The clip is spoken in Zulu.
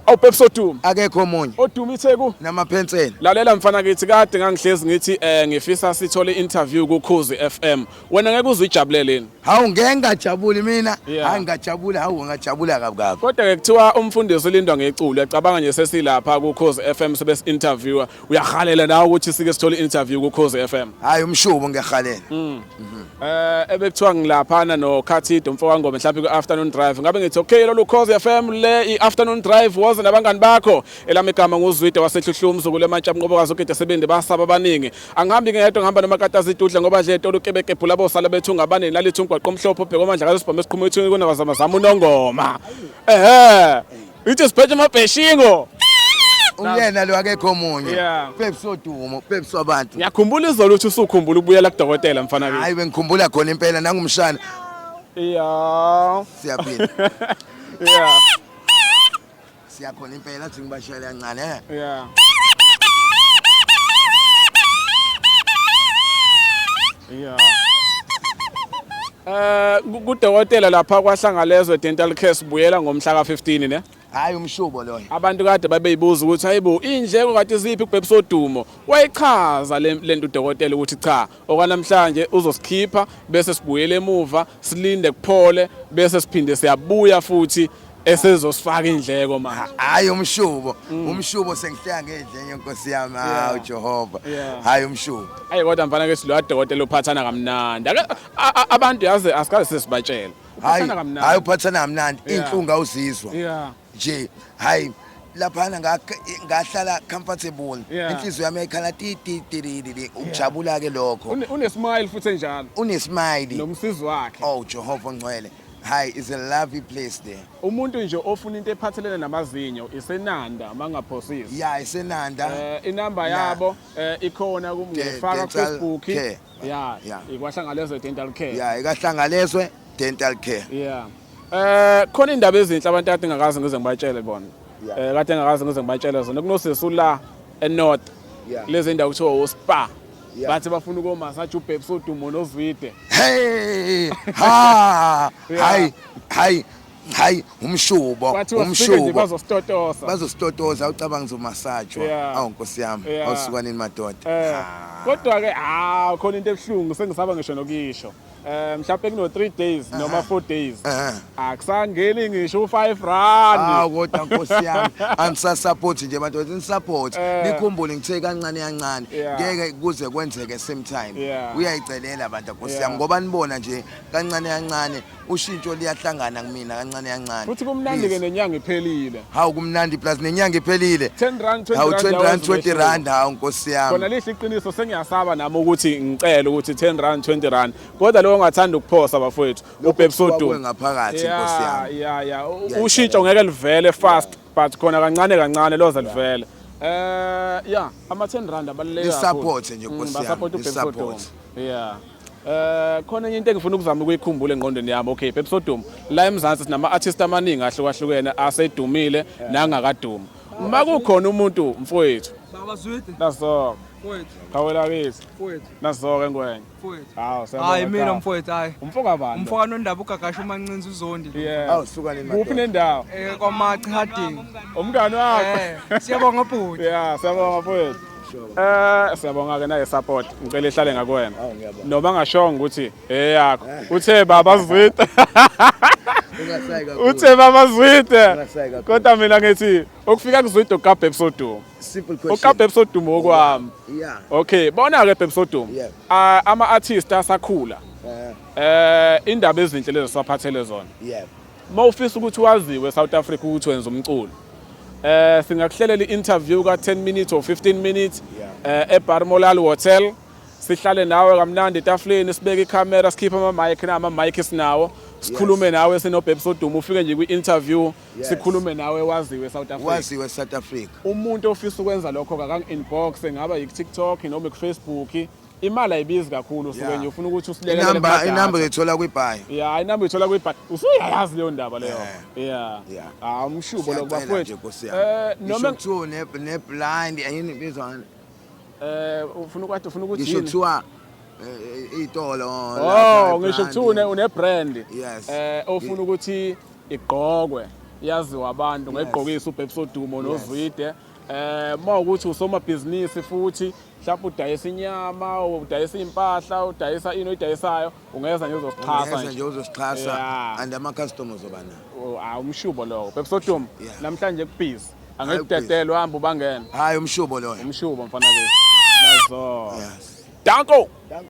Awu Pep Soduma. Akekho omunye. Oduma iTheku namaphensela. Lalela mfana kithi kade ngangihlezi ngithi eh ngifisa sithole interview ku Khuzi FM. Wena ngeke uzijabulele yini? Hawu ngeke ngajabuli mina. Hayi ngajabula hawu ngajabula kabi kabi. Kodwa ke kuthiwa umfundisi ulindwa ngeculo yacabanga nje sesilapha ku Khuzi FM sebe interviewer. Uyahalela nawe ukuthi sike sithole interview ku Khosi FM. Hayi umshubo ngiyahalela. Mm. Mhm. Eh ebekuthiwa ngilaphana no Khathido mfo wangoma mhlawumbe ku afternoon drive. Ngabe ngithi okay lolu Khosi FM le i afternoon drive was nabangani bakho. Elami igama nguzwide wasehluhlwa umzukulu emantsha mnqobo kazo kide sebendi basaba abaningi. Angihambi ngedwa ngihamba noma katazi idudla ngoba dle tolu kebeke bhula bosala bethu ngabane lalithi ungwaqo omhlophe ubheka omandla kazo sibhome siqhuma ethu kunabazama zama unongoma. Ehhe. Uthi usiphethe amabheshingo. Uyena lo akekho omunye. Yeah. Peps odumo, peps wabantu. Ngiyakhumbula izolo uthi usukhumbula ukubuyela kudokotela mfana kimi. Hayi bengikhumbula khona impela nangumshana. Yeah. Siyaphila. Yeah. Siyakhona impela athi ngibashayela kancane. eh. Yeah. Yeah. Eh kudokotela lapha kwaHlangalezwe Dental Care sibuyela ngomhla ka-15 ne. Hayi umshubo loyo. Abantu kade babeyibuza ukuthi hayibo indleko kade ziphi kubhebisa odumo. Wayichaza lento udokotela ukuthi cha okwanamhlanje uzosikhipha bese sibuyele emuva silinde kuphole bese siphinde siyabuya futhi esezosifaka indleko manje hayi umshubo mm. umshubo sengihleka ngedlenye nkosi yami hawu Jehova hayi umshubo hayi kodwa mfana ke siloya dokotela uphathana kamnandi abantu yazi asikaze sesibatshela hayi hayi uphathana kamnandi inhlungu awuzizwa nje hayi laphana ngahlala comfortable inhliziyo yami yayikhala tititititi ukujabula ke lokho unesmile futhi enjalo unesmile nomsizi wakhe oh Jehova ngcwele Hi, it's a lovely place there. Umuntu nje ofuna into ephathelene namazinyo isenanda mangaphosisi. Yeah, isenanda. Eh inamba yabo eh ikhona kumngefaka ku Facebook. Yeah. Yeah. Ikwahlangalezwe dental care. Yeah, ikahlangalezwe dental care. Yeah. Eh khona indaba ezinhle abantu ade ngakazi ngize ngibatshele bona. Eh kade ngakazi ngize ngibatshele zona kunosisi ula enorth yeah. lezi ndawo kuthiwa wospa yeah. bathi bafuna ukomasaja ubhebs odumo nozwide hey ha hayi hayi hayi umshubo umshubo bazostotosa bazostotosa ucabanga uzomasajwa yeah. awu nkosi yami yeah. awusukanini madoda eh. kodwa ke ha khona into ebuhlungu sengisaba ngisho nokisho Eh mhlawumbe kuno 3 days noma 4 days. Eh. Akusangeni ngisho u5 rand. Hawu kodwa nkosi yami angisa support nje abantu ni support eh. nikhumbule ngithe kancane kancane ngeke kuze kwenzeke same time. Uyayicelela abantu nkosi yami ngoba nibona nje kancane kancane ushintsho liyahlangana kumina kancane kancane. Futhi kumnandi ke nenyanga iphelile. hawu kumnandi plus nenyanga iphelile 10 rand 20 hawu 20 rand 20 rand hawu nkosi yami khona lihle iqiniso sengiyasaba nami ukuthi ngicela ukuthi 10 rand 20 rand kodwa lowo ongathanda ukuphosa bafowethu ubhebsodu ngaphakathi nkosi yami ya ya ushintsho ngeke livele fast but khona kancane kancane loze livele eh ya ama 10 rand abaluleke kakhulu support nje nkosi mm, yami support ubhebsodu yeah Eh khona enye into engifuna ukuzama ukuyikhumbula engqondweni yami okay Pepe Sodom la eMzansi sinama artists amaningi ahlukahlukene asedumile nangakadumi uma kukhona umuntu mfowethu Baba Zwidi. Naso. Mfowethu. Khawela kithi. Mfowethu. Naso ke ngwenye. Mfowethu. Hawu siyabona. Hayi mina mfowethu hayi. Umfo kabani? Umfo kanondaba ugagasha umancinza uzondi. Yeah. Hawu suka le mali. Kuphi nendawo? Eh kwaMachi Harding. Umngani wakho. Eh, siyabonga bhuti. Yeah, siyabonga mfowethu. Eh siyabonga ke naye support ngicela ihlale ngakuwena noma ngashonga ukuthi eyakho uthe baba zwita uthe baba zwita kodwa mina ngithi ukufika kuzwita ukabhe episode simple question ukabhe episode okwami yeah okay bona ke episode ah, ama artists asakhula eh, eh indaba ezinhle lezo saphathele zona yeah Uma ufisa ukuthi waziwe South Africa ukuthi wenza umculo. Eh singakuhlelela i-interview ka 10 minutes or 15 minutes eh eBar Molal Hotel. Sihlale nawe kamnandi etafuleni sibeke ikhamera sikhiphe ama mic na ama mic sinawo. Sikhulume nawe sinobhebhi soduma ufike nje kwi-interview sikhulume nawe waziwe South Africa. Waziwe South Africa. Umuntu ofisa ukwenza lokho kakangi inbox ngaba yi TikTok noma ku Facebook imali ayibizi kakhulu usuke Yeah. nje ufuna ukuthi usilekele inamba kuma-data. inamba uyithola kwibhayi ya inamba uyithola kwibha usuyayazi leyo ndaba leyo Yeah. ya Yeah. ah umshubo lo Siyacela nje, bafowethu Nkosi yami. eh Ngisho noma kuthiwa une- neblind yini ibizwa ngani? eh ufuna ukwathi ufuna ukuthi ngisho yini kuthiwa eh, itolo lapha, oh ngisho ibrand. kuthiwa une une brand Yes. eh ofuna ukuthi igqokwe yaziwa abantu ngayigqokisa uBhebsodumo nozwide eh mawukuthi usomabhizinisi futhi mhlawumbe udayisa inyama udayisa iy'mpahla udayisa ini oyidayisayo ungeza nje uzosixhasa Ngeza nje uzosixhasa Yeah. and ama-customer ozoba nawo Ah, umshubo lowo bebsotum Yeah. namhlanje kubhizi angeke Hayi, kudedelwe hambe ubangene hhayi umshubo loyo umshubo mfana ke nazo yes danko